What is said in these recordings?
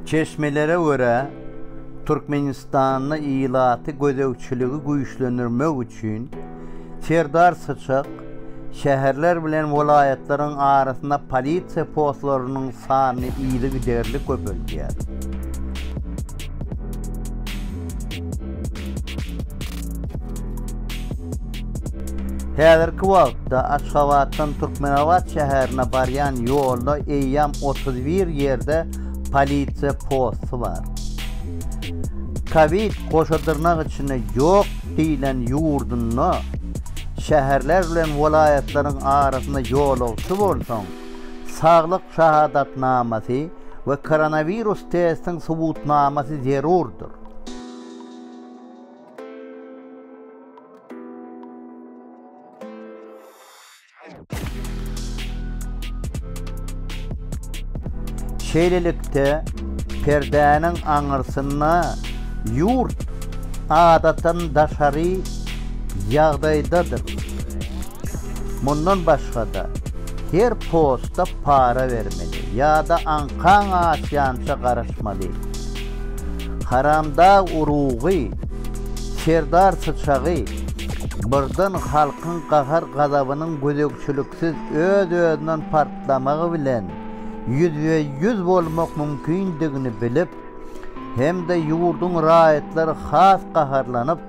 Çeşmelere görä, Türkmenistanda ilaty gözegçiligi güýçlendirmek üçin Serdar Syçak şäherler bilen welaýatlaryň arasynda polisiýa postlarynyň sanyny yzygiderli köpeldýär. Häzirki wagtda Aşgabatdan Türkmenabat şäherine barýan ýolda eýýäm otuz bir ýerde polisiýa posty bar. Kowid goşadyrnak içinde ýok diýlen ýurdunda şäherler bilen welaýatlaryň arasynda ýolagçy bolsaň, saglyk şahadatnamasy we koronawirus testiň subutnamasy zerurdyr. Şeýlelikde, perdäniň aňyrsynda ýurt adatdan daşary ýagdaýdadyr. Mundan başga-da, her posta para bermeli ýa-da aňkaň açýança garaşmaly. Haramdag urugy, Serdar syçagy birden halkyň gahar-gazabynyň gözegçiliksiz öz-özünden partlamagy bilen ýüzbe-ýüz bolmak mümkindigini bilip hem-de ýurduň raýatlary has gaharlanyp,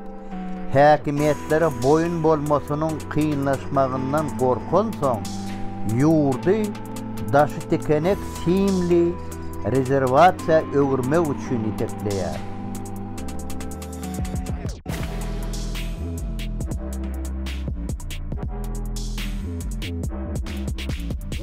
Häkimiýetlere boýun bolmasynyň kynlaşmagyndan gorkansoň, ýurdy daşytikenek simli rezerwasiýa öwürmek üçin itekleýär.